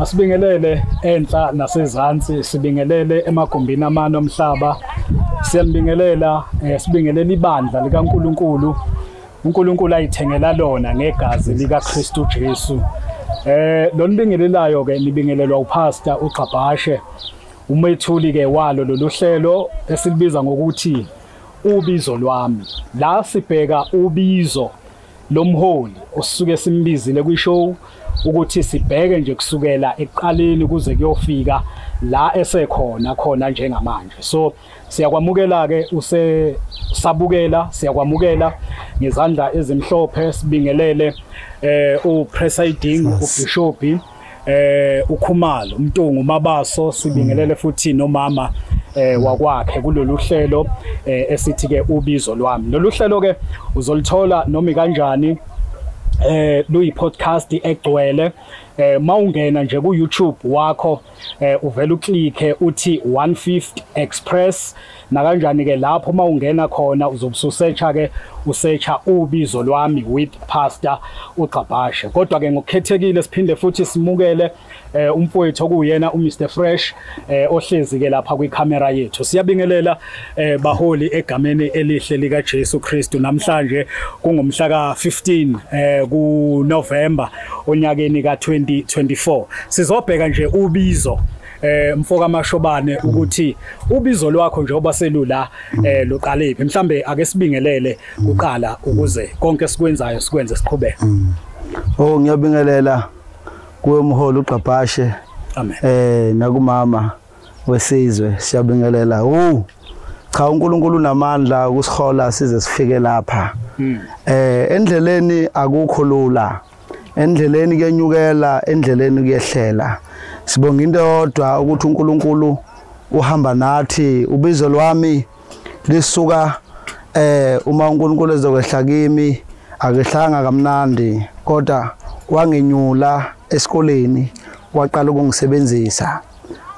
Asibingelele enhla nasezansi sibingelele emagumbini amane omhlaba siyambingelela eh, sibingelela ibandla likaNkuluNkulu uNkulunkulu ayithengela lona ngegazi likaKristu Jesu eh lonibingelelayo ke nibingelelwa upastor uGxabhashe umethuli ke walo lolu hlelo esilibiza ngokuthi ubizo lwami la sibheka ubizo lo mholi osuke simbizile kwi-show ukuthi sibheke nje kusukela ekuqaleni kuze kuyofika la esekhona khona njengamanje so siyakwamukela ke use sabukela siyakwamukela ngezandla ezimhlophe sibingelele eh upresiding ubishop eh ukhumalo umntungu mabaso sibingelele futhi nomama eh wakwakhe kulolu hlelo eh, esithi ke ubizo lwami lolu hlelo ke uzolithola noma kanjani eh luyi podcast egcwele eh mawungena nje ku YouTube wakho eh uvela uclick uthi 150 express nakanjani ke lapho uma ungena khona uzobususearcha ke usearcha ubizo lwami with pastor uGcabhashe kodwa ke ngokukhethekile siphinde futhi simukele eh, umfowethu okuyena uMr Fresh eh, ohlezi ke lapha kwicamera yethu siyabingelela eh, baholi egameni elihle lika Jesu Kristu namhlanje kungomhla ka 15 eh, ku November onyakeni ka 2024 sizobheka nje ubizo eh mfoka mashobane ukuthi ubizo lwakho njengoba selula eh luqalephi mhlambe ake sibingelele kuqala ukuze konke sikwenzayo sikwenze siqhubeke oh ngiyabingelela kuwe mholi uqabhashe amen eh nakumama wesizwe siyabingelela uh cha uNkulunkulu unamandla ukusihola size sifike lapha hmm. eh endleleni akukho lula endleleni kuyenyukela endleleni kuyehlela sibonga into yodwa ukuthi uNkulunkulu uhamba nathi ubizo lwami lisuka eh uma uNkulunkulu ezokwehla kimi akehlanga kamnandi kodwa wangenyula esikoleni waqala ukungisebenzisa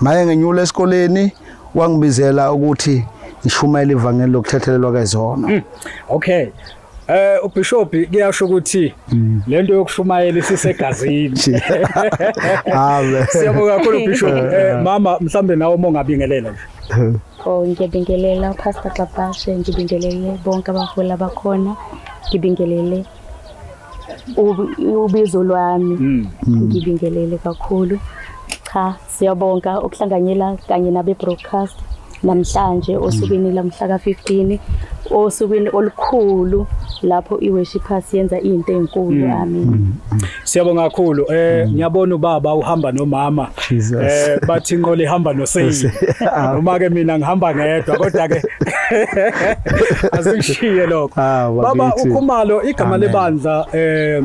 maye ngenyula esikoleni wangibizela ukuthi ngishumayela ivangeli lokuthethelelwa kezono hmm. okay Eh uBishop kuyasho ukuthi mm. lento yokushumayela isisegazini. Amen. Siyabonga kakhulu uBishop. Eh, eh mama mhlambe nawe uma ungabingelela nje. Oh ngiyabingelela uPastor Xabashe ngibingelele bonke abaholi abakhona. Ngibingelele ubizo lwami. Mm. Ngibingelele kakhulu. Cha Siyabonga ukuhlanganyela kanye nabe broadcast namhlanje osukwini lamhla ka-15 osukwini olukhulu lapho i-worshipers yenza into enkulu mm. amen mm. siyabonga kakhulu eh mm. ngiyabona ubaba uhamba nomama eh bathi inqola ihamba noseyi uma ke mina ngihamba ngedwa kodwa ke asingishiye lokho ah, baba ukhumalo igama lebandla eh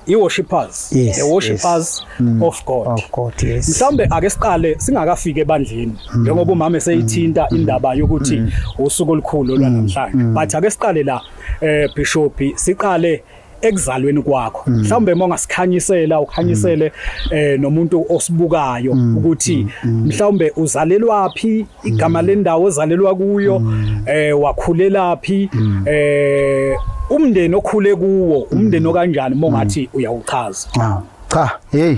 i-worshippers yes, the worshippers yes. Mm. of god, of god yes. mhlawumbe ake siqale singakafiki ebandleni mm. njengoba umama eseyithinta mm. indaba yokuthi mm. usuku olukhulu olwanamhlanje mm. mm. but ake siqale la eh bishop siqale ekuzalweni kwakho mm. mhlawumbe uma ungasikhanyisela ukhanyisele mm. eh nomuntu osibukayo mm. ukuthi mhlawumbe uzalelwaphi igama mm. lendawo ozalelwa kuyo mm. eh wakhulelaphi mm. eh umndeni okhule kuwo umndeni okanjani mongathi uyawuchaza ah, cha hey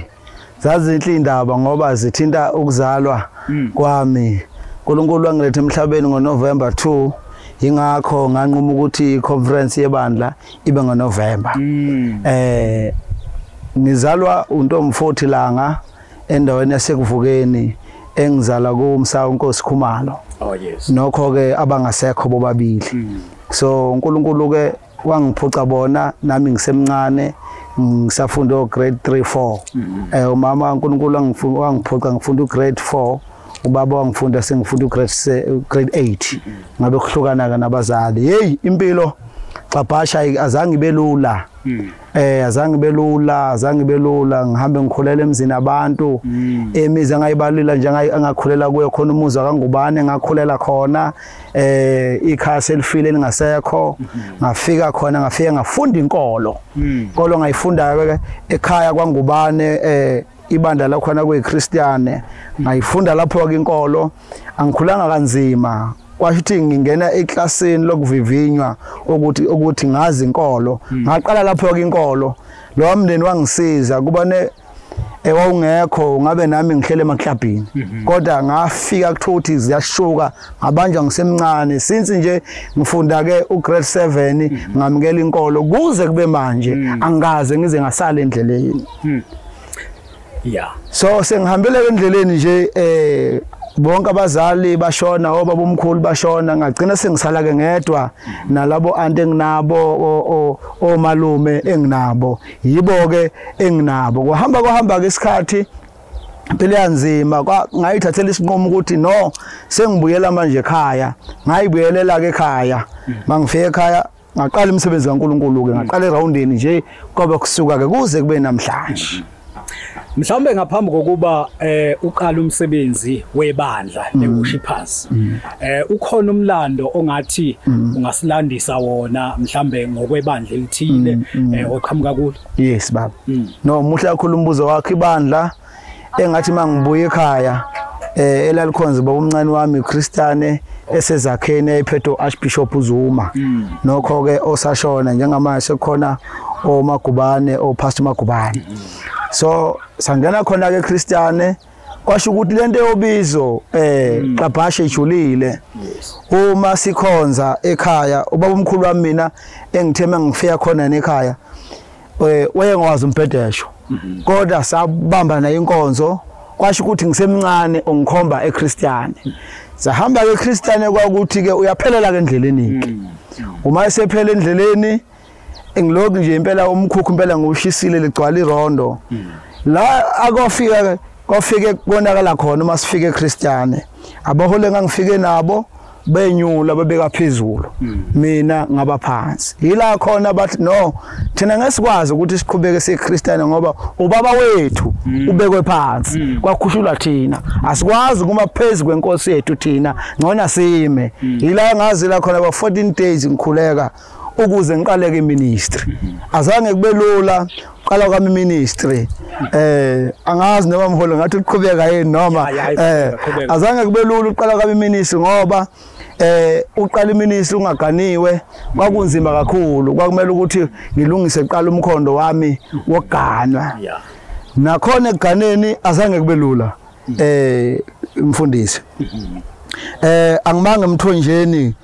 zazinhle indaba ngoba zithinta ukuzalwa kwami uNkulunkulu wangiletha emhlabeni ngoNovember 2 ingakho nganquma ukuthi iconference yebandla ibe ngoNovember eh ngizalwa untomfo 40 langa endaweni yasekuvukeni engizala kumsa uNkosi Khumalo oh yes nokho ke abangasekho bobabili mm. so uNkulunkulu ke wangiphuca bona nami ngisemncane ngisafunda o grade 3 4 mm. eh umama uNkulunkulu angifuna wangiphuca ngifunda u grade 4 ubaba wangifunda sengifunda u grade grade 8 mm. ngabe kuhlukana ke nabazali hey impilo xabhasha azange ibelula mm. eh azange belula azange belula ngihambe ngikhulela emzini abantu mm. emizi angayibalula nje angakhulela kuyo khona umuzi akangubane ngakhulela khona eh ikhasi elifile lingasekho mm-hmm. ngafika khona ngafika ngafunda inkolo mm. inkolo ngayifundayo ekhaya kwangubane eh ibandla lakhona kuyiChristiane ngayifunda lapho ke inkolo angikhulanga kanzima kwasho ukuthi ngingena eklasini lokuvivinywa ukuthi ukuthi ngazi inkolo hmm. ngaqala lapho ke inkolo lo wamndeni wangisiza kuba ne ewawungekho eh, ngabe nami ngihlele emaklabhini mhm. kodwa ngafika kuthiwa ukuthi ziyashuka ngabanjwa ngisemncane since nje ngifunda ke ugrade 7 mhm. ngamukela inkolo kuze kube manje mhm. angikaze ngize ngasala endleleni yeah so sengihambela endleleni nje eh bonke abazali bashona obaba omkhulu bashona ngagcina sengisala ke ngedwa nalabo anti enginabo omalume enginabo yibo ke enginabo kuhamba kuhamba ke isikhathi impilo yanzima ngayithathela isinqumo ukuthi no sengibuyela manje ekhaya ngayibuyelela ke ekhaya mangifika ekhaya ngaqala imisebenzi kaNkulunkulu-ke ngaqala erawundini nje kwaba kusuka-ke kuze kube namhlanje mhlawumbe ngaphambi kokuba eh uqala umsebenzi webandla mm. leWorshippers mm. eh ukhona umlando ongathi mm. ungasilandisa wona mhlambe ngokwebandla elithile eh oqhamuka kulo yes baba no muhle kakhulu umbuzo wakhe ibandla engathi mangibuye ekhaya eh elalikhonza baba umncane wami uChristane esezakheni ayiphethe uArchbishop uZuma mm. nokho ke osashona njengamanje sekukhona omagubane oPastor Magubane mm. so sangena khona ke Christiane kwasho ukuthi lento yobizo eh mm. qabhashe ijulile uma sikhonza ekhaya ubaba omkhulu wami mina engitheme ngifika khona nekhaya eh, wayengwazi umbhedesho mhm. kodwa sabamba naye inkonzo kwasho ukuthi ngisemncane ungikhomba eChristiane sahamba ke eChristiane kwakuthi ke uyaphelela ke endleleni mm. uma esephela endleleni engiloku nje impela umkhukhu impela ngushisile ligcwala irondo mm. la akofika kofike konakala khona uma sifike eChristiane abahole ngangifike nabo benyula babeka phezulu hmm. mina ngaba phansi yila khona bathi no thina ngesikwazi ukuthi siqhubeke seKristian ngoba ubaba wethu hmm. ubekwe phansi hmm. kwakhushulwa thina asikwazi kuma phezulu kwenkosi yethu thina ngona sime yila ngazi la khona ba 14 days ngikhuleka ukuze ngiqaleke iministry azange kube lula qala kwami ministry eh angazi noma mholo ngathi uqhubeka yini noma eh azange kube lula uqala kwami ministry ngoba eh uqala iminisi ungaganiwe kwakunzima kakhulu kwakumele ukuthi ngilungise kuqala umkhondo wami woganwa nakhona ekuganeni azange kube lula eh mfundisi eh angimanga emthonjeni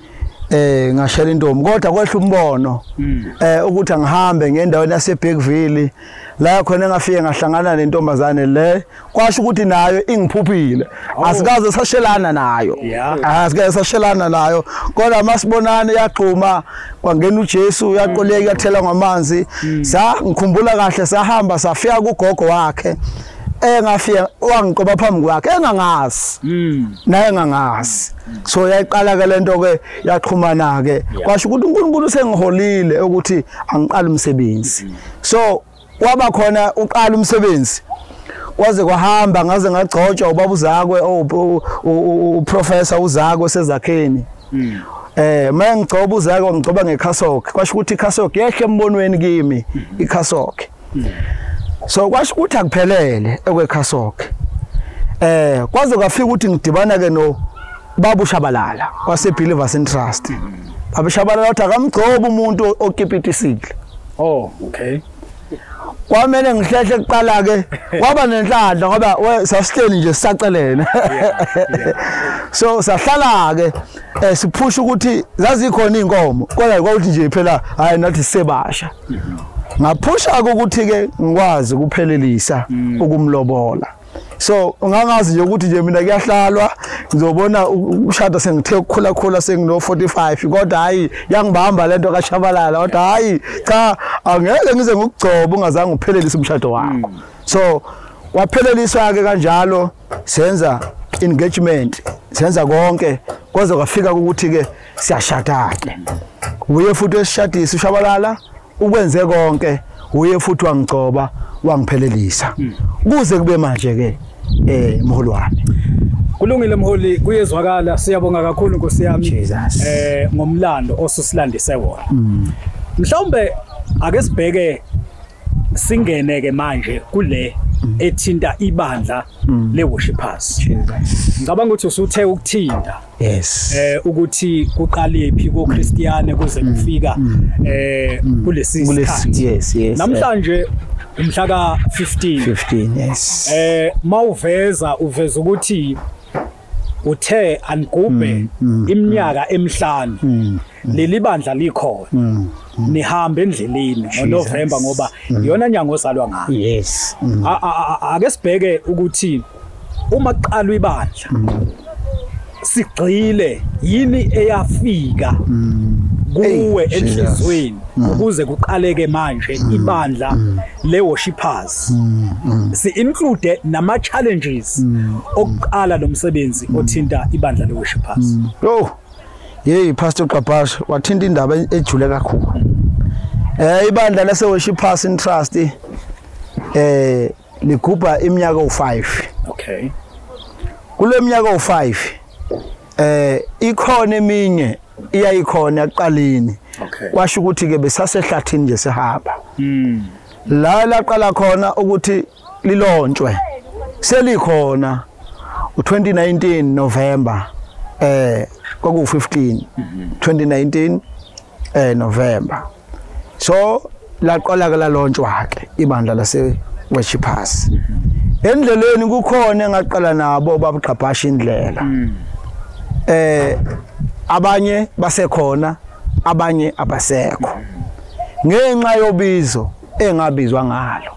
eh ngashela intombi kodwa kwehla umbono hmm. eh ukuthi angihambe ngendaweni yase Bergville la khona ngafike ngahlangana nentombazane le kwasho ukuthi nayo ingiphuphile oh. asikaze sashelana nayo asikaze sashelana nayo kodwa masibonane yaxhuma kwangena uJesu yaqoleka yathela ngamanzi hmm. sa ngikhumbula kahle sahamba safika kugogo wakhe eh ngafike wangiqoba phambi kwakhe engangazi mm. naye engangazi so yayiqala ke lento ke yaqhumana ke kwasho ukuthi uNkulunkulu sengiholile ukuthi angiqala umsebenzi mm. so waba khona uqala umsebenzi kwaze kwahamba ngaze ngagcotshwa ubaba uzakwe uprofessor uzakwe sezakheni mm. eh mengigcoba uzakwe ngigcoba ngekhasoke kwasho ukuthi ikhasoke yehle embonweni kimi mm-hmm. ikhasoke so kwasho ukuthi akuphelele ekwekhasoke eh kwaze kwafika ukuthi ngidibana ke no babu shabalala wase believers in trust babu shabalala uthi akamgcoba umuntu okipitisile oh okay kwamele ngihlehle kuqala ke kwaba nenhlanhla ngoba sasihleli nje sisacelene so sahlala ke eh, siphusha ukuthi zazikhona inkomo kodwa kwakuthi nje phela hayi nathi sebasha ngaphusha ukuthi ke ngikwazi ukuphelelisa mm. ukumlobola so ungangazi nje ukuthi nje mina kuyahlalwa ngizobona ushada sengithe ukukhula khula sengino 45 kodwa hayi yangibamba lento kashabalala kodwa hayi cha angeke ngize ngikugcoba ungazange uphelelise umshado wakho mm. so wapheleliswa ke kanjalo senza engagement senza konke kwaze kwafika ukuthi ke siyashada ke uye futhi esishadisa ushabalala ukwenze konke uye futhi wangigcoba wangiphelelisa hmm. kuze kube manje ke eh mholi wami Kulungile mholi kuyezwakala siyabonga kakhulu Nkosi yami eh ngomlando osusilandise wona. Hmm. Mhlawumbe ake sibheke singene ke manje kule ethinta ibandla mm. le worshipers ngicabanga ukuthi usuthe ukuthinta yes eh ukuthi kuqalephi ko Christiane kuze mm. kufika mm. eh kulesi sikhathi yes yes namhlanje umhla ka 15 15 yes eh mawuveza uveza ukuthi uthe angigubhe iminyaka emihlanu leli bandla likhona mm. mm. nihambe endleleni ngoNovember ngoba mm. iyona nyanga ozalwa ngayo yes ake sibheke ukuthi uma kuqalwa ibandla sigcile yini eyafika kuwe enhlizweni ukuze kuqaleke manje ibandla le worshipers si include nama challenges okuqala lomsebenzi othinta ibandla le worshipers oh Hey Pastor Gqabhashe wathinta indaba ejule kakhulu. Eh ibandla lase Worship Pass in Trust eh ligubha iminyaka u5. Okay. Kuleminyaka u5 eh ikhona eminye iyayikhona ekuqaleni. Okay. Kwasho ukuthi ke besasehlathini nje sihamba. Mm. La laqala khona ukuthi lilontshwe selikhona u2019 November eh kwaku 15 2019 eh November so laqala ke lalontshwa ke ibandla lase West Pass endleleni kukhona engaqala nabo babugqabhasha indlela mm. eh abanye basekhona abanye abasekho ngenxa yobizo engabizwa ngalo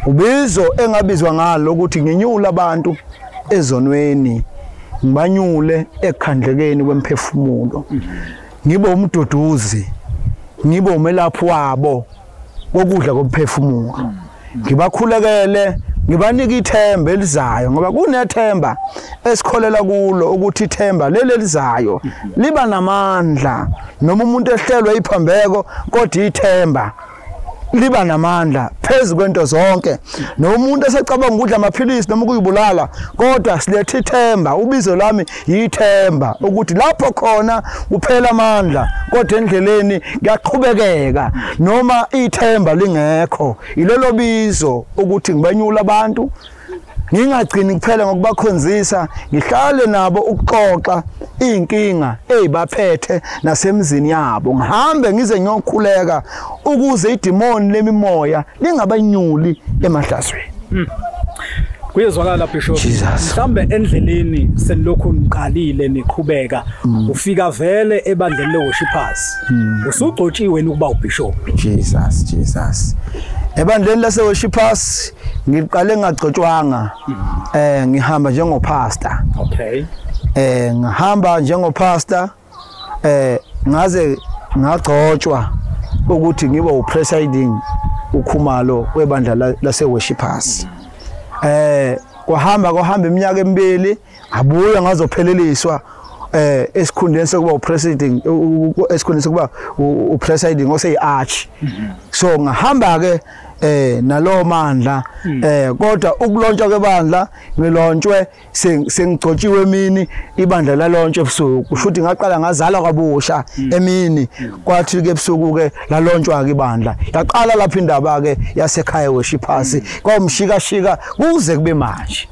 ubizo engabizwa ngalo ukuthi nginyula abantu ezonweni ngibanyule ekhandlekeni kwemphefumulo ngibe umduduzi ngibe umelaphi wabo kokudla komphefumulo ngibakhulekele ngibanika ithemba elizayo ngoba kunethemba esikholela kulo ukuthi ithemba leli elizayo liba namandla noma umuntu ehlelwe iphambeko kodwa ithemba liba namandla phezu kwento zonke nomuntu esecabanga ukudla amaphilisi noma ukuyibulala kodwa silethe ithemba ubizo lami yithemba ukuthi lapho khona kuphela amandla kodwa endleleni kuyaqhubekeka noma ithemba lingekho ilelo bizo ukuthi ngibenyula abantu ngingagcini kuphela ngokubakhonzisa ngihlale nabo ukuxoxa izinkinga ezibaphethe nasemzini yabo ngihambe ngize ngiyokhuleka ukuze idimoni lemimoya lingabanyuli emahlazweni hmm. kuyezwakala bishop mhlambe endleleni senilokhu niqalile niqhubeka hmm. ufika vele ebandleni leworshippers hmm. usugcotshiwe ukuba ubishop jesus jesus ebandleni laseworshippers Ngiqale ngagcotshwanga eh ngihamba njengo pastor. Okay. Eh ngihamba njengo pastor eh ngaze ngagcotshwa ukuthi ngibe upresiding ukhumalo webandla lase worshipers. Eh kwahamba kwahamba iminyaka emibili abuya ngazopheleliswa eh esikhundleni sokuba upresiding esikhundleni sokuba upresiding ose iarch mhm. so ngahamba ke eh nalowo mandla hmm. eh kodwa ukulontshwa kwebandla ngilontshwe sengigcotshiwe emini ibandla lalontshwa ebusuku kusho ukuthi ngaqala ngazalwa kabusha hmm. emini hmm. kwathi ke ebusuku ke lalontshwa ke ibandla yaqala lapha indaba ke yasekhaya weshiphasi kwamshika shika kuze kube manje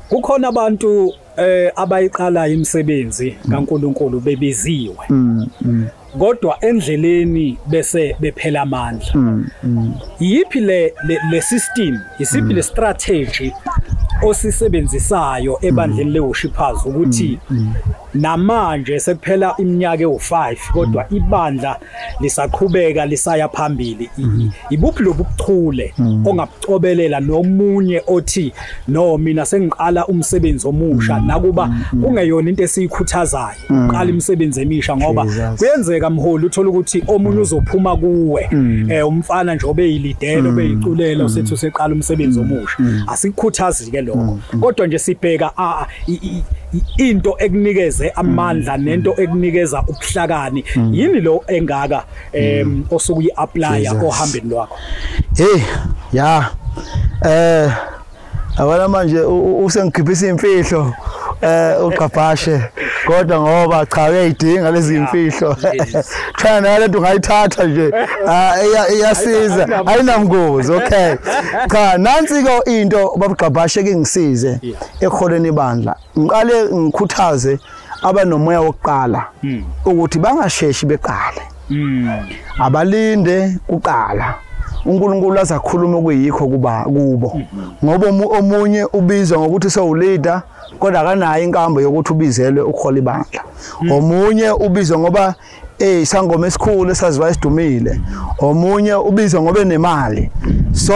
kukhona abantu eh abayiqalayo imisebenzi kaNkuluNkulu bebiziwe mm, mm. kodwa endleleni bese bephela amandla mm, mm. yipi le le system yisipi mm. le strategy osisebenzisayo ebandleni mm. leworshippers ukuthi mm, mm. namanje sekuphela iminyaka ewu5 kodwa ibandla lisaqhubeka lisaya phambili mhm. ibuphi lobuchule mhm. ongabucobelela nomunye othi no mina sengiqala umsebenzi omusha mhm. nakuba kungeyona into esiyikhuthazayo uqala imisebenzi emisha ngoba kuyenzeka mholi uthola ukuthi omunye uzophuma kuwe eh umfana nje obeyilidele obeyiculela usethi useqala umsebenzi omusha asikukhuthazike lokho kodwa nje sibheka into ekunikeze amandla mm. nento ekunikeza ubuhlakani mm. yini lo engaka em mm. osuku uyiapplya ohambeni lwakho hey ya eh abana manje usengikhiphisa imfihlo eh uqaphashe kodwa ngoba cha uyayidinga lezi imfihlo cha nayo lento ungayithatha nje ah, iyasiza ayinamngozi okay cha nansi ke into babugqabhashe kingisize eholweni ibandla ngiqale ngikhuthaze abanomoya wokuqala hmm. ukuthi bangasheshi beqale hmm. abalinde kuqala uNkulunkulu azakhuluma okuyikho kuba kubo ngoba omunye ubizwa ngokuthi sewuleader kodwa akanayo inkambo yokuthi ubizelwe ukuhola ibandla hmm. omunye ubizwa ngoba Eh isangoma esikhulu esaziwa isidumile. Omunye ubizwa ngobe nemali. So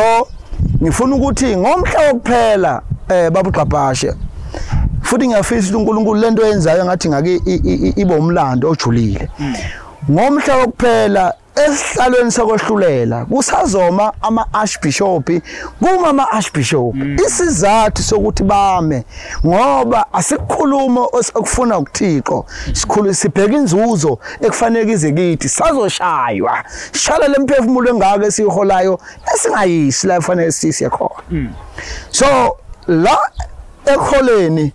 ngifuna ukuthi ngomhla wokuphela eh babugqabhashe futhi ngiyafisa ukuthi uNkulunkulu lento yenzayo ngathi ngake ibe umlando ojulile hmm. ngomhla wokuphela esihlalweni sokwehlulela kusazoma ama-archbishop kuma ama-archbishop hmm. isizathu sokuthi bame ngoba asikhulumo okufuna ukuthixo sikhulu sibheka inzuzo ekufanele ize kithi sazoshaywa shala lemphefumulo engaka esiholayo esingayisi la kufanele sisiye khona hmm. so la ekholeni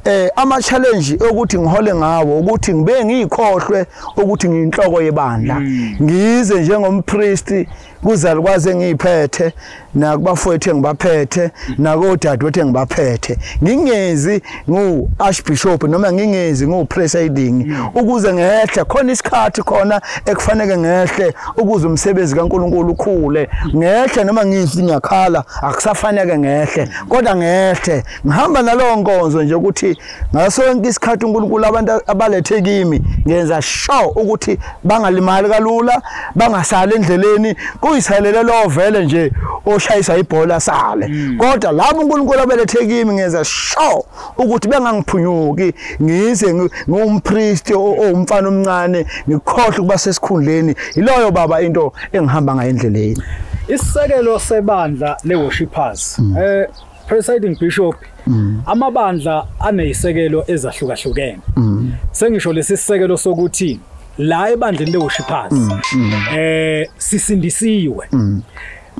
eh ama challenge ukuthi ngihole ngawo ukuthi ngibe ngikhohlwe ukuthi ngiyinhloko yebandla hmm. ngize njengompriest kuzalukwazi engiyiphethe nakubafowethu engibaphethe nakodadewethu engibaphethe ngingezi ngu-archbishop noma ngingezi ngu-presiding ukuze ngehle khona isikhathi khona ekufaneke ngehle ukuze umsebenzi kankulunkulu ukhule ngehle noma ngithi ngiyakhala akusafaneke ngehle kodwa ngehle ngihamba nalowo nkonzo nje ukuthi ngaso sonke isikhathi uNkulunkulu abantu abalethe kimi ngenza sure ukuthi bangalimali kalula bangasali endleleni kuyisalele lo vele nje oshayisa ibhola sale mm. kodwa labo uNkulunkulu abelethe kimi ngenza sure ukuthi bengangiphunyuki ngize ngumpristi owumfana omncane ngikhohle ukuba sesikhundleni yiloyo baba into engihamba ngayo endleleni isisekelo sebandla le worshipers mm. eh Presiding Bishop mm. amabandla anezisekelo ezahlukahlukene mm. sengisho lesi sisekelo sokuthi la ebandleni lewushiphazi mm, mm. eh sisindisiwe mm.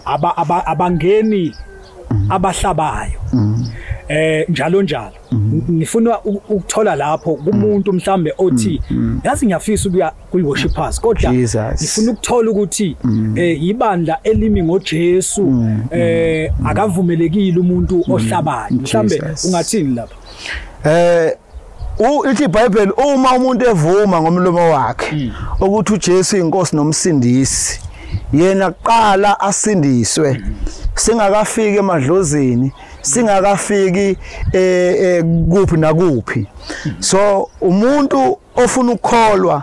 aba abangeni mm. abahlabayo mm. eh njalo njalo mm. ngifuna ukuthola lapho kumuntu mhlambe othi mm, mm. yazi ngiyafisa ukuya kuyi worshipers kodwa ngifuna ukuthola ukuthi mm. eh ibandla elimi ngoJesu mm. eh mm. akavumelekile umuntu ohlabayo mhlambe ungathini lapha eh uthi iBhayibheli uma umuntu evuma ngomlomo wakhe ukuthi uJesu inkosi nomsindisi yena kuqala asindiswe singakafiki emadlozini singakafiki eh, eh kuphi nakuphi so umuntu ofuna ukukholwa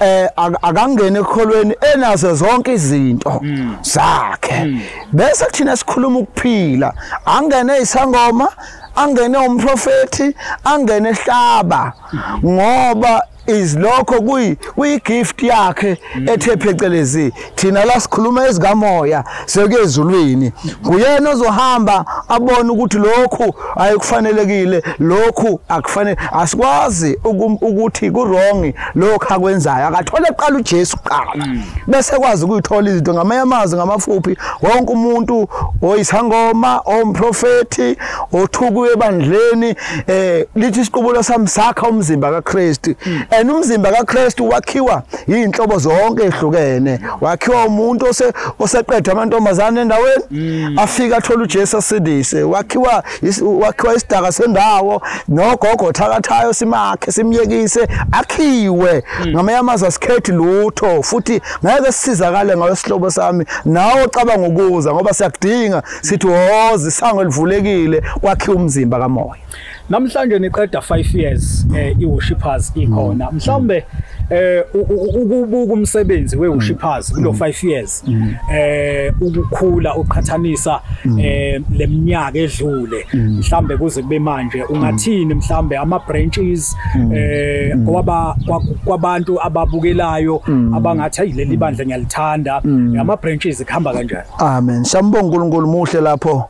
eh akangene ekholweni enazo zonke izinto hmm. zakhe hmm. bese kuthina sikhuluma ukuphila angene isangoma angene umprofeti angene ehlaba hmm. ngoba izilokho kuyi kuyi gift yakhe ethe phecelezi thina la sikhuluma ezikamoya sekuye ezulwini nguyena ozohamba abone ukuthi lokhu ayikufanelekile lokhu akufanele asikwazi ukuthi kuwrong lokho akwenzayo akathole kuqala uJesu kuqala mm. bese kwazi ukuyithola izinto ngamanye amazwi ngamafuphi wonke umuntu oyisangoma omprofeti othukuye ebandleni eh lithi isiqubulo sami sakha umzimba kaKristu mm. and umzimba kaKristu wakhiwa iy'nhlobo zonke ehlukene wakhiwa umuntu oseqedwa amantombazane endaweni mm. afike athole ujesu asindise wakhiwa wakhiwa isidaka sendawo nogogo thakathayo simakhe simyekise akhiwe mm. ngamanye amazwi asikhethi lutho futhi ngeke sisizakale ngayo sihlobo sami nawe ocabanga ukuza ngoba siyakudinga sithi woza isango elivulekile kwakhiwa umzimba kamoya Namhlanje niqeda 5 years eh iWorshippers ikhona. Mm. Mhlawumbe eh ukubuka umsebenzi weWorshippers mm. kulo 5 mm. years eh ukukhula uqhathanisa eh leminyaka edlule. Mhlawumbe kuze kube manje ungathini mhlawumbe ama branches eh kwaba kwabantu ababukelayo abangathi ayileli bandla ngiyalithanda. Ama branches ikhamba kanjani? Amen. Sambonga uNkulunkulu muhle lapho.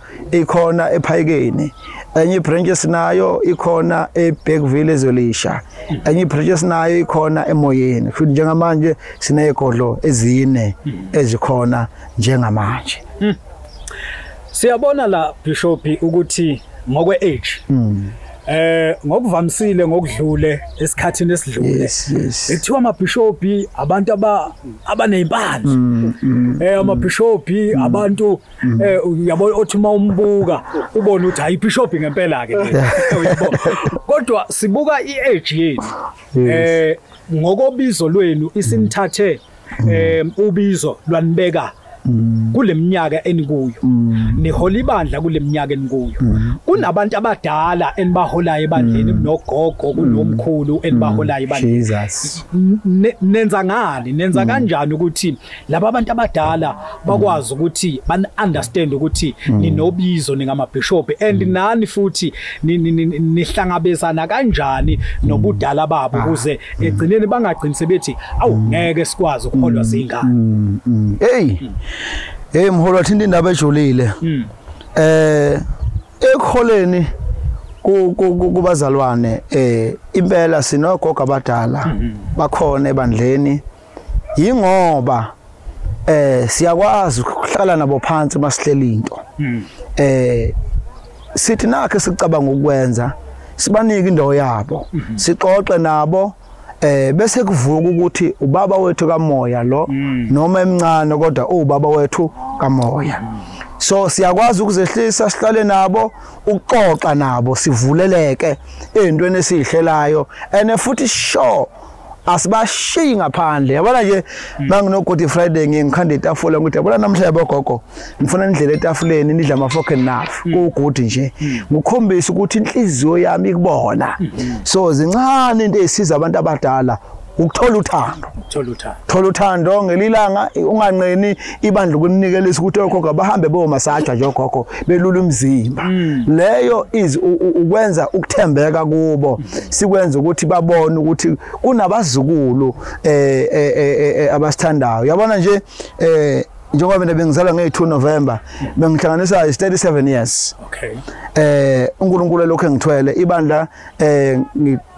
ikhona ephayikeni enye ibranch esinayo ikhona eBergville ezolisha enye ibranch esinayo ikhona emoyeni futhi njengamanje sinezigodlo ezine ezikhona njengamanje hmm. siyabona la bishop ukuthi ngokwe age hmm. eh ngokuvamisile ngokudlule esikhathini esidlule ekuthiwa amabhishopi abantu aba abanezimpande hmm, eh amabhishopi abantu Mm. eh uyabo othi uma umbuka ubone ukuthi hayi bishop ngempela ke uyabo kodwa sibuka iage yenu eh ngokobizo lwenu isinithathe mm. eh ubizo lwanibeka mm. kuleminyaka enikuyo mm. nihola ibandla kuleminyaka enikuyo kunabantu abadala enibaholayo ebandleni kunogogo kunomkhulu enibaholayo ebandleni nenza ngani nenza kanjani ukuthi laba abantu abadala bakwazi ukuthi ban understand ukuthi mm. ninobizo ningamabishop and mm. nani futhi nihlangabezana kanjani mm. nobudala babo ah. ukuze egcineni bangagcini sebethi awu ngeke sikwazi ukuholwa zingane hey hey mholo wathinta indaba ejulile eh ekholeni kubazalwane eh impela sinogogo abadala mm-hmm. bakhona ebandleni yingoba eh siyakwazi ukuhlala nabo phansi masihlela into hmm. eh sithi nakhe sicabanga ukwenza sibanike indawo yabo hmm. sixoxe nabo eh bese kuvuka ukuthi ubaba wethu kamoya lo hmm. noma emncane kodwa ubaba wethu kamoya so siyakwazi ukuzehlisa sihlale nabo ukuxoxa nabo sivuleleke ezintweni esizihlelayo and futhi sure asibashiyi ngaphandle yabona nje manginogodi hmm. friday ngiye ngikhanda itafula ngikuthi yabona namhla yabogogo ngifuna nidlela etafuleni nidla ama-fork and knife hmm. kuwugudi nje hmm. ngikhombise ukuthi inhliziyo yami ikubona so zincane into eyisiza abantu abadala ukuthola uthando thola uthando ngelilanga unganqeni ibandla ukunikeliswa ukuthi okhokho abahambe bomasaja nje okhokho belula umzimba mm. leyo is ukwenza ukuthembeka kubo sikwenza ukuthi babone ukuthi kunabazukulu eh, eh, eh, eh abasithandayo yabona nje eh njengoba mina bengizalwa nge-2 november bengihlanganisa is 37 years okay eh unkulunkulu lokhu engithwele ibandla eh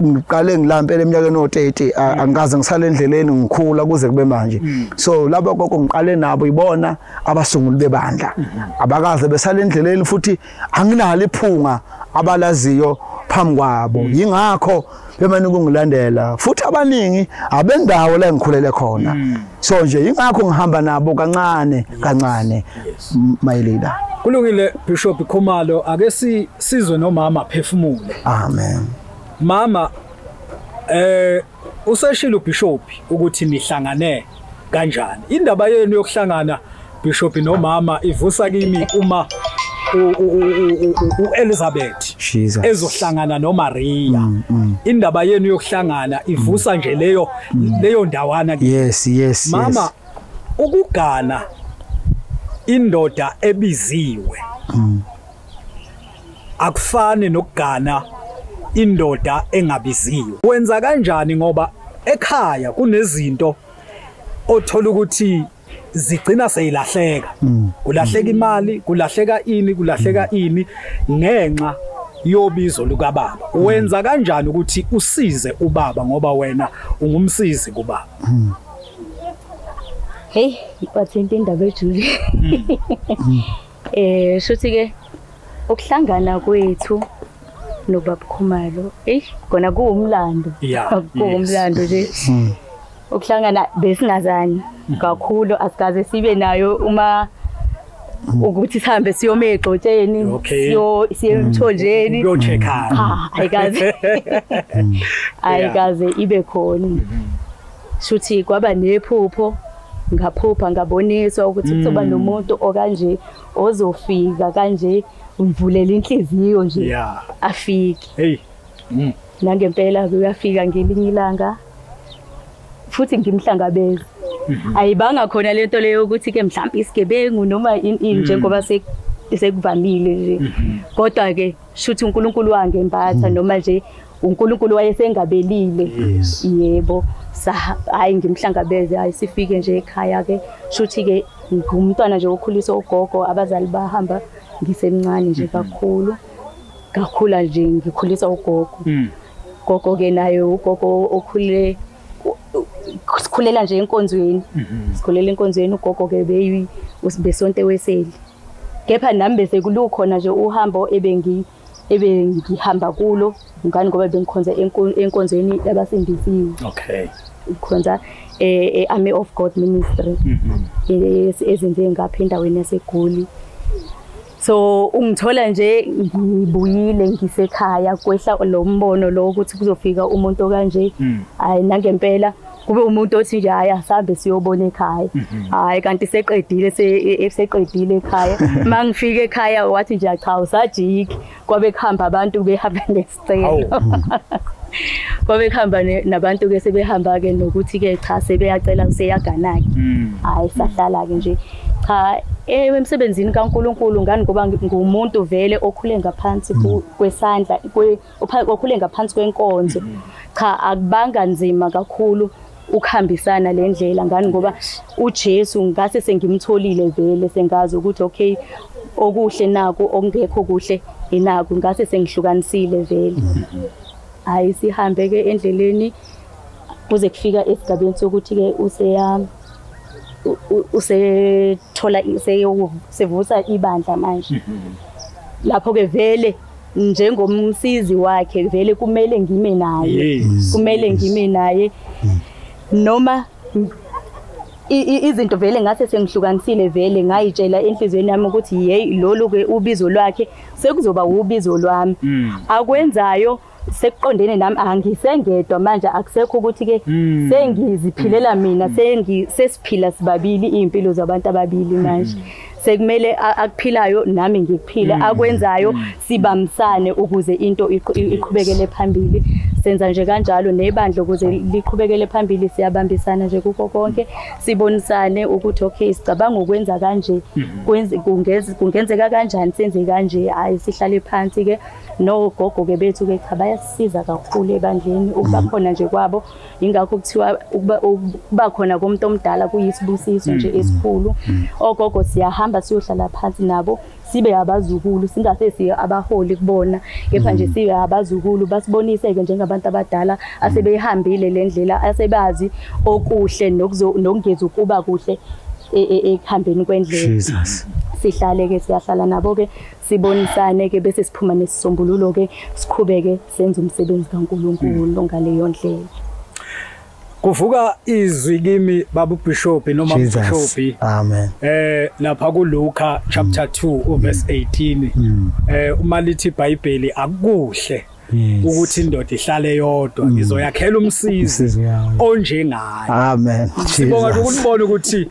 ngiqale ngilampela eminyakeni o30 mm. angikaze ngisale endleleni ngikhula kuze kube manje mm. so laba gogo ngiqale nabo ibona abasunguli bebandla mm-hmm. abakaze besale endleleni futhi anginalo iphunga abalaziyo phambi kwabo mm. yingakho bemane kungilandela futhi abaningi abendawo la ngikhulele khona so nje yingakho ngihamba nabo kancane kancane Yes. Mayelida. Kulungile Bishop Khumalo ake si sizwe nomama phefumule. Amen. Mama eh useshilo Bishop ukuthi nihlangane kanjani. Indaba yenu yokuhlangana Bishop nomama ivusa kimi uma uElizabeth ezohlangana noMaria mm, mm. indaba yenu yokuhlangana ivusa nje leyo mm. leyo ndawana yes yes mama ukugana indoda ebiziwe hmm. akufani nokugana indoda engabiziwe wenza kanjani ngoba ekhaya kunezinto othola ukuthi zigcina seyilahleka hmm. kulahleka imali kulahleka ini kulahleka hmm. ini ngenxa yobizo lukababa wenza kanjani ukuthi usize ubaba ngoba wena ungumsizi kubaba Hey, ipathente indaba ejule. Hmm. Eh, shuthi ke ukuhlangana kwethu nobaba Khumalo. Ey, kona kuwumlando. Kuwumlando nje. Hmm. Ukuhlangana besingazani hmm. kakhulu asikaze sibe nayo uma ukuthi sihambe siyoma egxotsheni siyo siye emthonjeni uyochekhana ayikaze ayikaze ibe khona shuthi kwaba nephupho ngaphupha ngaboniswa ukuthi kuzoba mm. nomuntu okanje ozofika kanje ngivulela inhliziyo nje yeah. afike hey mm. nangempela uyafika ngelinye ilanga futhi ngimhlangabeza mhm. ayibanga khona lento leyo ukuthi ke mhlawumbe isigebengu noma ini mm. njengoba sekuvamile nje mhm. kodwa ke shuthi uNkulunkulu wangembatha hmm. noma nje uNkulunkulu wayesengabelile yebo hayi ngimhlangabeze hayi sifike nje ekhaya ke shuthi ke ngumntwana nje okhulisa ugogo abazali bahamba ngisemncane nje hmm. kakhulu ngakhula nje ngikhulisa ugogo hmm. gogo ke naye ugogo okhule sikhulela nje enkonzweni mhm. sikhulela enkonzweni ugogo ke beyi besonte weseli kepha nami bese kulukhona nje uhambo ebengi ebengihamba kulo ngani ngoba bengikhonza enkonzweni yabasindisiwe okay ikhonza e-army eh, eh, of god ministry mm-hmm. eh, ezenze ngapha endaweni yasegoli so ungithola nje ngibuyile ngisekhaya kwehla lo mbono lo ukuthi kuzofika umuntu okanje mm. hayi nangempela kube umuntu othi nje hayi asambe siyobona ekhaya mhm. hayi kanti seqedile e, e, seqedile ekhaya mangifika ekhaya wathi nje cha usajiki kwabe kuhamba abantu behamba nesicelo kwabe kuhamba nabantu ke sebehamba ke nokuthi ke cha sebeyacela useyagana ke mm. hayi sahlala ke nje cha eh, emsebenzini kaNkuluNkulu ngani ngoba ngumuntu vele okhule ngaphansi mm. kwesandla okhule ngaphansi kwenkonzo cha akubanga nzima kakhulu ukuhambisana le ndlela ngani ngoba uJesu ngase sengimtholile vele sengazi ukuthi okay okuhle naku okungekho kuhle inaku ngase sengihlukanisile vele hayi sihambe ke endleleni kuze kufika esigabeni sokuthi ke useya usethola sevusa ibandla manje lapho ke vele njengomsizi wakhe vele kumele ngime naye kumele ngime naye mm. noma izinto vele ngase sengihlukanisile vele ngayitshela enhlizweni yami ukuthi hey lolu ke ubizo lwakhe sekuzoba ubizo lwami mm. akwenzayo sekuqondene nami angisengedwa manje akusekho ukuthi ke mm. sengiziphilela mina mm. sengi sesiphila sibabili impilo zabantu ababili manje sekumele akuphilayo nami ngikuphile mm. akwenzayo mm. sibamsane ukuze into iqhubekele phambili senza nje kanjalo nebandla ukuze liqhubekele phambili siyabambisana nje kuko konke sibonisane ukuthi okay sicabanga ukwenza kanje mm-hmm. kungenzeka kanjani senze kanje hayi sihlale phansi ke nogogo ke bethu ke cha bayasisiza kakhulu ebandleni ukuba mm-hmm. khona nje kwabo yingakho kuthiwa ukuba khona komuntu omdala kuyisibusiso nje mm, mm, esikhulu mm. ogogo siyahamba siyohlala phansi nabo sibe abazukulu singase siye abaholi kubona kepha nje sibe abazukulu basibonise-ke njengabantu abadala asebeyihambile le ndlela asebazi okuhle nokungezi ukuba kuhle e, e, ekuhambeni kwendlela sihlale-ke siyahlala nabo-ke sibonisane-ke bese siphuma nesisombululo-ke siqhubeke senza umsebenzi kaNkulunkulu mm. ngaleyo ndlela kuvuka izwi kimi babu bishop noma bishop amen eh lapha ku Luka chapter 2 mm. verse 18 mm. eh uma lithi iBhayibheli akukuhle yes. ukuthi indoda ihlale yodwa mm. ngizoyakhela umsizi onjengayo amen sibonga ukubona ukuthi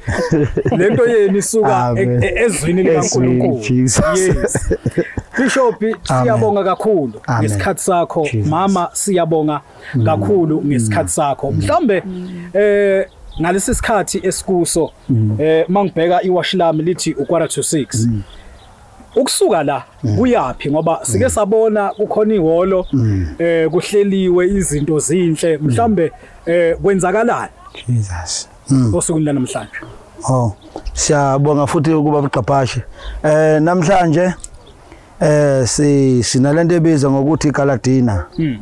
lento yenu isuka e- e- ezwini likaNkulunkulu yes bishop siyabonga kakhulu ngesikhathi sakho mama siyabonga mm. kakhulu ngesikhathi mm. sakho mhlambe eh ngalesi sikhathi esikuso mm. eh mangibheka iwash lami lithi ukwara to 6 ukusuka la mm. kuyapi ngoba mm. sike sabona kukhona iholo mm. eh kuhleliwe izinto zinhle mhlambe eh kwenzakalani Jesus osukwini lanamhlanje oh siyabonga futhi ukuba buqaphashe eh namhlanje eh si sinalento ebiza ngokuthi Galadina mm.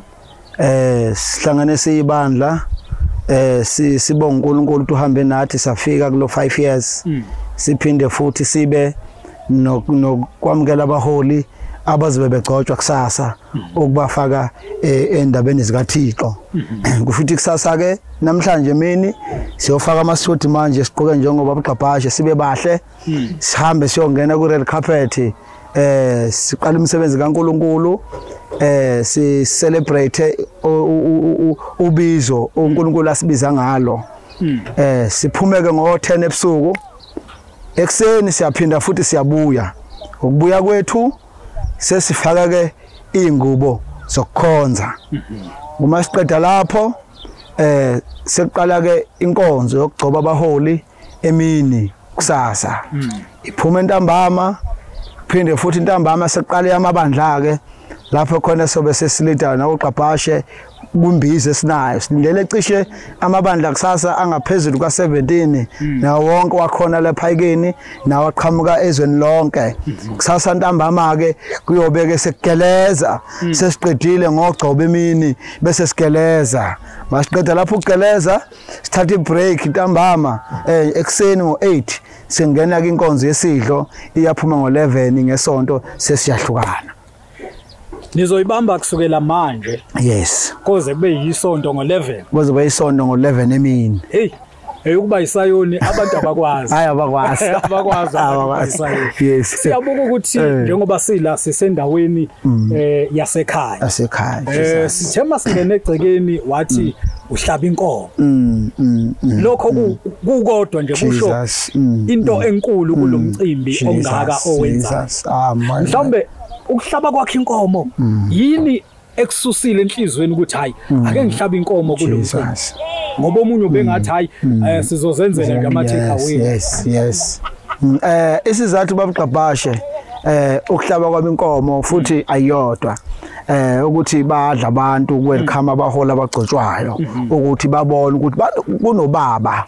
eh sihlangane siyibandla eh si sibonga uNkulunkulu uhambe nathi safika kulo 5 years mm. siphinde futhi sibe nokwamukela abaholi abazibe begcotshwa kusasa mm. ukubafaka eh, endabeni zikaThixo mm-hmm. kusho ukuthi kusasa ke namhlanje mini siyofaka amasuthi manje siqoke njengoba bugqabhashe sibe bahle hmm. sihambe siyongena ku red carpet eh siqala umsebenzi kaNkuluNkulu eh si celebrate ubizo uNkulunkulu asibiza ngalo hmm. eh siphumeke ngo 10 ebusuku ekseni siyaphinda futhi siyabuya ukubuya kwethu sesifaka ke ingubo zokukhonza hmm. uma siqeda lapho eh sekuqala ke inkonzo yokugcoba abaholi emini kusasa hmm. iphuma entambama phinde futhi intambama seqale amabandla ke lapho khona sobe sesilida nokuqaphashe kumbizi esinayo silindele cishe amabandla kusasa angaphezulu kwa-17 hmm. nawo wonke wakhona lephayikeni nawo aqhamuka ezweni lonke hmm. kusasa ntambama-ke kuyobeke sekugeleza hmm. sesiqedile ngogcoba emini bese sigeleza masiqeda lapho ukugeleza sithatha ibreak ntambama eh ekseni ngo8 singena kwinkonzo yesidlo iyaphuma ngo11 ngesonto sesiyahlukana nizoyibamba kusukela manje yes koze kube yisonto ngo11 koze kube yisonto ngo11 emini hey eyokuba isayoni abantu abakwazi hayi abakwazi abakwazi abakwazi yes siyabuka ukuthi eh. njengoba sila sisendaweni mm. eh yasekhaya yasekhaya eh sithema singene egcekeni wathi mm. uhlaba inkomo mm, mm, mm, lokho mm. kukodwa nje kusho mm, into mm, enkulu kulomcimbi mm, ongaka owenza ah, mhlawumbe ukuhlaba kwakhe inkomo mm. yini ekususile enhlizweni ukuthi hayi mm. ake ngihlaba inkomo kulomcimbi ngoba omunye ubengathi hayi mm. eh, sizozenzela nje ama take away yes yes mm, eh isizathu babugqabhashe eh ukuhlaba kwami inkomo futhi ayodwa eh ukuthi badla abantu welcome abahola abagcotshwayo mhm. ukuthi babone ukuthi kunobaba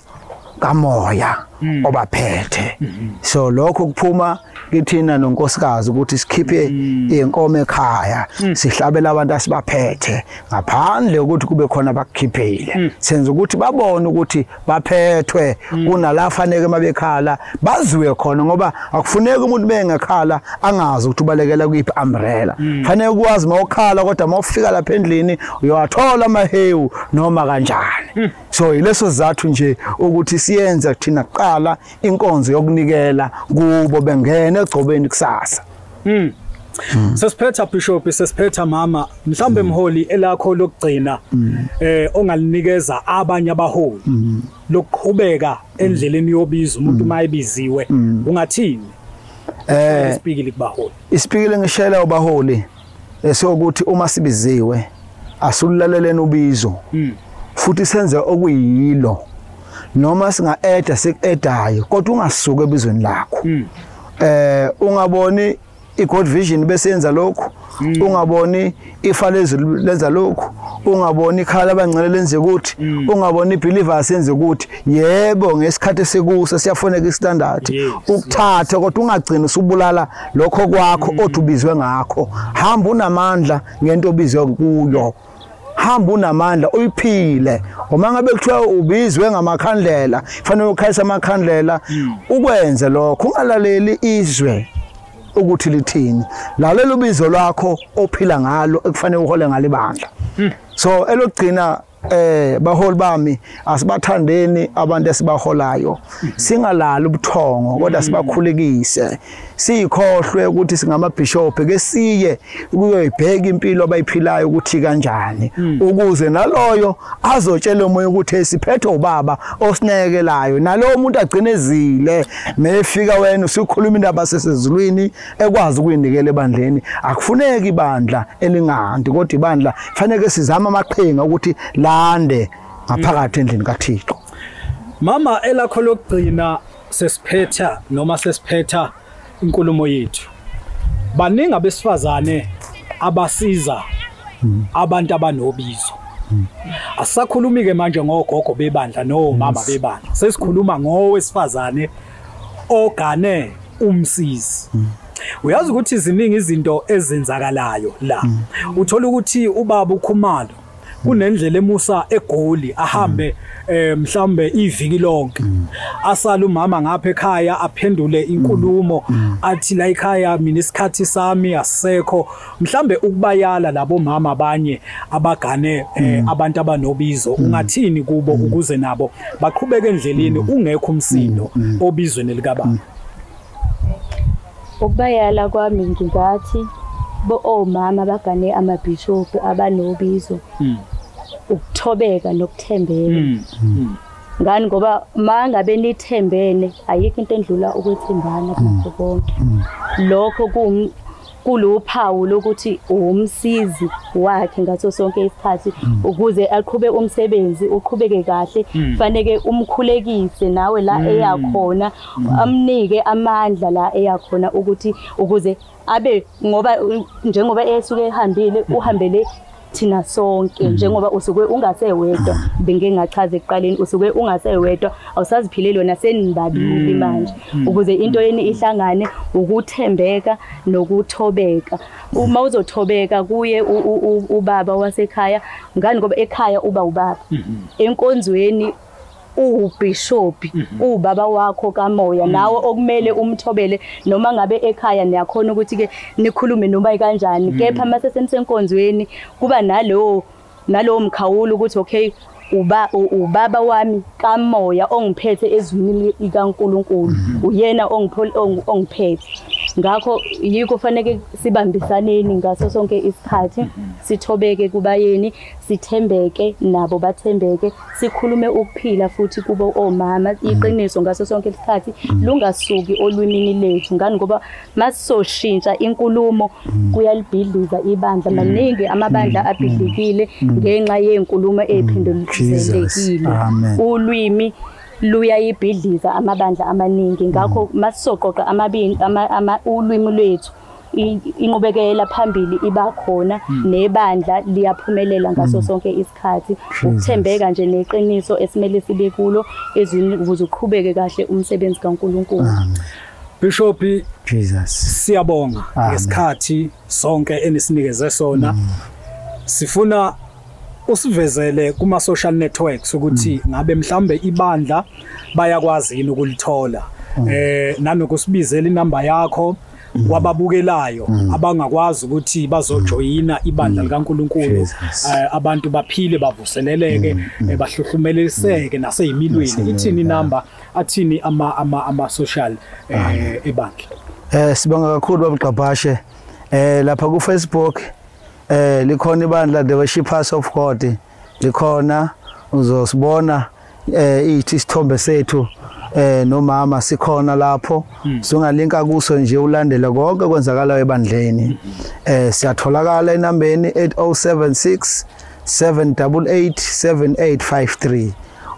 kamoya mhm. obaphethe mhm. so lokho kuphuma kithina nonkosikazi ukuthi sikhiphe inkomo ekhaya sihlabela abantu asibaphethe ngaphandle ukuthi kube khona abakukhiphile senza ukuthi babone ukuthi baphethwe kunala faneke mabekhala baziwe khona ngoba akufuneki umuntu bengekhala angazi ukuthi ubalekela kuyiphi umbrella mm. fanele ukwazi mawukhala kodwa mawufika lapha endlini uyawathola amahewu noma kanjani mm. so yileso zathu nje ukuthi siyenze kuthina kuqala inkonzo yokunikela kubo bengene egcobeni kusasa Mm. Mm. Sesiphetha bishop sesiphetha mama mhlambe mm. mholi elakho lokugcina mm. eh ongalinikeza abanye abaholi mm. lokuqhubeka mm. endleleni yobiza umuntu mm. mayebiziwe mm. ungathini eh isipikile kubaholi isipikile ngishela ubaholi esokuthi uma sibiziwe asululaleleni ubizo mm. futhi senze okuyilo noma singa-eda siku-edayo kodwa ungasuki ebizweni lakho mm. eh ungaboni iGod Vision bese yenza lokhu mm. ungaboni ifa lezulu lenza lokhu ungaboni ikhala abangcele lenze ukuthi mm. ungaboni ibelievers yenze ukuthi yebo ngesikhathi sekuso siyafoneka istandard ukuthatha kodwa ungagcini usubulala lokho kwakho mm. othi ubizwe ngakho hamba unamandla ngento obizwe kuyo hamba unamandla uyiphile uma ngabe kuthiwa ubizwe ngamakhandlela fanele ukhayisa amakhandlela hmm. ukwenze lokho ungalaleli izwe ukuthi lithini lalela ubizo lwakho ophila ngalo ekufanele uhole ngalo ibandla hmm. so elokugcina eh baholi bami asibathandeni abantu esibaholayo hmm. singalali ubuthongo kodwa sibakhulekise siyikhohlwe ukuthi singamabhishophi ke siye kuyoyibheka impilo abayiphilayo ukuthi kanjani hmm. ukuze naloyo azotshela umoya ukuthi siphethe ubaba osinekelayo nalowo muntu agcinezile mefika wena usukhuluma indaba sesezulwini ekwazi ukuyinikela ebandleni akufuneki ibandla elingahanti kodwa ibandla fanele sizama amaqhinga ukuthi lande ngaphakathi endlini kaThixo mama elakho lokugcina sesiphetha noma sesiphetha inkulumo yethu baningi abesifazane abasiza hmm. abantu abanobizo hmm. asisakhulumi ke manje ngogogo bebandla no mama bebandla sesikhuluma ngowesifazane ogane umsizi hmm. uyazi ukuthi ziningi izinto ezenzakalayo la uthola ukuthi ubaba ukhumalo kunendlela emusa egoli ahambe mm. eh mhlambe iviki lonke mm. asala umama ngapha ekhaya aphendule mm. inkulumo athi la ekhaya mina isikhathi sami asekho mhlambe ukubayala labo mama abanye abagane eh, abantu abanobizo ungathini kubo ukuze nabo baqhubeke endleleni ungekho umsindo obizweni likababa Ukubayala kwami ngingathi bo omama bagane amabhishobhu abanobizo hmm. ukuthobeka nokuthembeka hmm. hmm. ngani ngoba mangabe nithembene ayikho into endlula ukwethembana nakho konke lokho kuluphawu lokuthi uwumsizi wakhe ngaso sonke isikhathi ukuze aqhube umsebenzi uqhubeke kahle kufanele umkhulekise nawe la eyakhona mm. amnike amandla la eyakhona ukuthi ukuze abe ngoba njengoba esuke ehambile mm. uhambele thina sonke mm. njengoba usuke ungasewedwa bengike ngachaza ekuqaleni usuke ungasewedwa awusaziphileli wena senibabili mm. manje mm. ukuze into yeni ihlangane ukuthembeka nokuthobeka uma uzothobeka kuye ubaba wasekhaya ngani ngoba ekhaya uba ubaba mm-hmm. enkonzweni uwubhishobhi mhm. uwubaba wakho kamoya mhm. nawe okumele umthobele noma ngabe ekhaya niyakhona ukuthi ke nikhulume noma kanjani mhm. kepha mase senisenkonzweni kuba nalowo nalowo mkhawulo ukuthi okay uba ubaba wami kamoya ongiphethe ezwini likaNkuluNkulu uyena ongiphethe ngakho yiko faneke sibambisaneni ngaso sonke isikhathi sithobeke kubayeni sithembeke nabo bathembeke sikhulume ukuphila futhi kubo omama mm. iqiniso ngaso sonke isikhathi mm. lungasuki olwimini lethu ngani ngoba masisoshintsha inkulumo mm. kuyalibhidliza ibandla maningi amabandla abhidlikile ngenxa yenkulumo ephinduluzelekile ulwimi luyayibhidliza amabandla amaningi ngakho masisoqoqa amabini ulwimi lwethu inqubekela phambili iba khona hmm. nebandla liyaphumelela ngaso hmm. sonke isikhathi ukuthembeka nje neqiniso esimele sibe kulo ezwini ukuze uqhubeke kahle umsebenzi kaNkuluNkulu Bishop Jesus siyabonga ngesikhathi sonke enisinikeze sona hmm. sifuna usivezele kuma social networks ukuthi mm. ngabe mhlambe ibandla bayakwazi yini ukulithola mm. eh nanokusibizela inamba yakho mm. wababukelayo abangakwazi ukuthi bazojoyina ibandla likaNkuluNkulu eh, abantu baphile bavuseleleke eh, bahluhlumeleseke naseyimilweni ithini number athini ama ama ama social eh, ah. ebandla eh sibonga kakhulu babugqabhashe eh lapha ku Facebook eh likhona ibandla the worshipers of God likhona uzosibona eh ithi isithombe sethu eh nomama sikhona lapho hmm. sungalinka kuso nje ulandele konke kwenzakalayo ebandleni hmm. eh siyatholakala enambeni 8076 7887853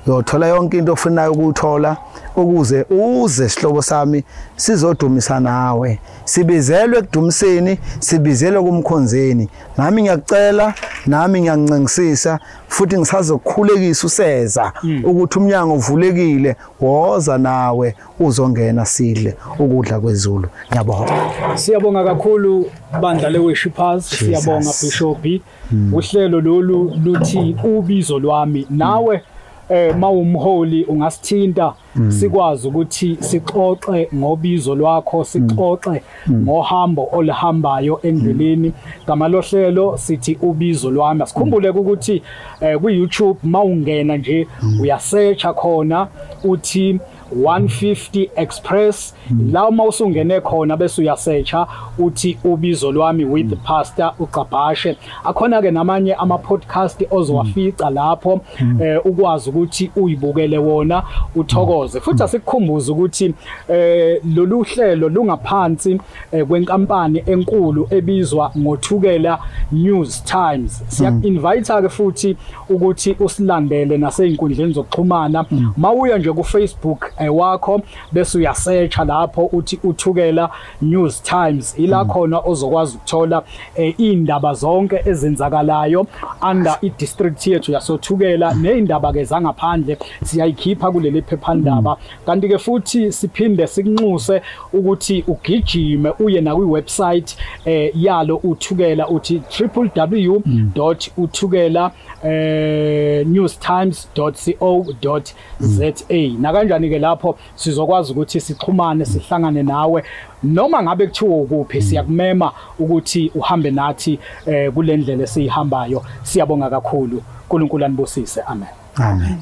uyothola yonke into ofunayo ukuthola ukuze uze sihlobo sami sizodumisa nawe sibizelwe ekudumiseni sibizelwe kumkhonzeni nami ngiyakucela nami ngiyancengisisa futhi ngisazokhulekisa useza hmm. ukuthi umnyango uvulekile woza nawe uzongena sidle ukudla kwezulu ngiyabonga siyabonga kakhulu bandla leWorshippers siyabonga Bishop hmm. uhlelo lolu luthi ubizo lwami nawe eh mawumholi ungasithinta Mm. sikwazi ukuthi sixoxe ngobizo lwakho sixoxe mm. Mm. ngohambo olihambayo endleleni gama lohlelo sithi ubizo lwami asikhumbule ukuthi eh, ku YouTube mawungena nje uyasearcha khona uthi 150 Express Hmm. la uma usungene khona bese uyasearcha uthi ubizo lwami with hmm. pastor uGcabhashe akhona ke namanye ama podcast ozowafica hmm. lapho eh, ukwazi ukuthi uyibukele wona uthokoze futhi asikukhumbuza ukuthi eh, lolu hlelo lungaphansi eh, kwenkampani enkulu ebizwa ngothukela News Times siya invite ke futhi ukuthi usilandele nasezinkundleni zokuxhumana mawuya nje ku Facebook wakho bese uyasearcha lapho uthi uthukela news times ila hmm. khona ozokwazi ukuthola eh, indaba zonke ezenzakalayo under i district yethu yasothukela hmm. nezindaba ke zangaphandle siyayikhipha kuleli phephandaba hmm. kanti ke futhi siphinde sikunxuse ukuthi ugijime uye na kwi website eh, yalo uthukela uthi www.uthukela eh, newstimes.co.za ZA nakanjani ke lapho sizokwazi ukuthi sixhumane sihlangane nawe noma ngabe kuthiwa ukuphi mm. siyakumema ukuthi uhambe nathi eh, kule ndlela esiyihambayo siyabonga kakhulu uNkulunkulu anibusise amen amen